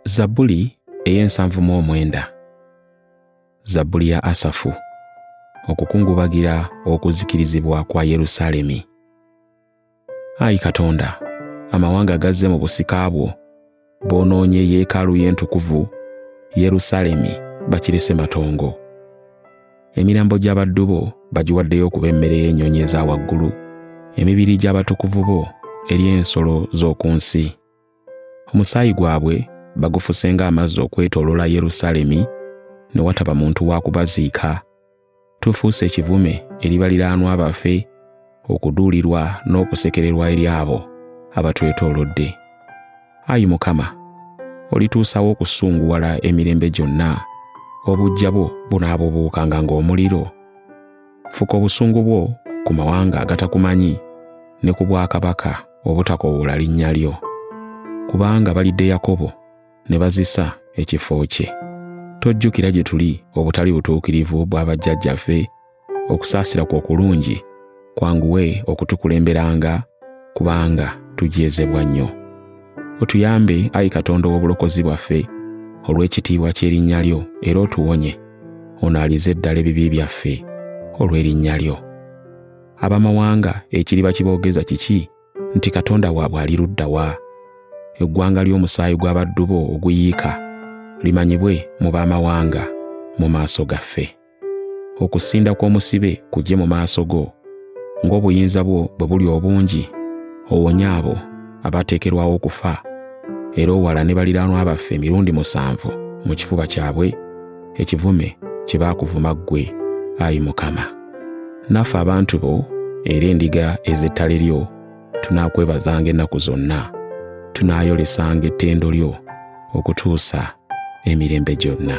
zabbuli ey'ensanvu mu omwenda zabbuli ya asafu okukungubagira okuzikirizibwa kwa yerusaalemi ayi katonda amawanga gazze mu busika bwo boonoonye yeekaalu y'entukuvu Yerusaalemi bakirese matongo. Emirambo gy'abaddu bo bagiwaddeyo okuba emmere y'ennyonyi eza waggulu, emibiri gy'abatukuvu bo eri ensolo z'oku nsi. Omusaayi gwabwe bagufuse ng'amazzi okwetooloola Yerusaalemi, ne wataba muntu wa kubaziika. tufuuse ekivume eri baliraanwa baffe okuduulirwa n'okusekererwa eri abo abatwetoolodde ayi mukama olituusawo okusunguwala emirembe gyonna obujja bwo bunaabubuukanga ng'omuliro fuka obusungu bwo ku mawanga agatakumanyi ne ku bwakabaka obutakowoola linnya lyo kubanga balidde yakobo ne bazisa ekifo kye. Tojjukira gye tuli obutali butuukirivu bwa bajjajjaffe, okusaasira kwo okulungi kwanguwe okutukulemberanga kubanga tujeezebwa nnyo. Otuyambe, ayi Katonda ow'obulokozi bwaffe, olw'ekitiibwa ky'erinnya lyo era otuwonye, onaalize eddala ebibi byaffe olw'erinnya lyo. Abamawanga ekiriba kiboogeza kiki nti Katonda waabwe ali ludda wa? Eggwanga ly'omusaayi gw'abaddu bo oguyiika limanyibwe mu b'amawanga mu maaso gaffe. Okusinda kw'omusibe kujje mu maaso go, ng'obuyinza bwo bwe buli obungi, owonye abo abateekerwawo okufa, era owala ne baliraanwa baffe emirundi musanvu mu kifuba kyabwe ekivume kye baakuvuma ggwe, ayi Mukama. naffe abantu bo era endiga ez'ettale lyo tunaakwebazanga ennaku zonna tunaayolesanga ettendo lyo okutuusa emirembe gyonna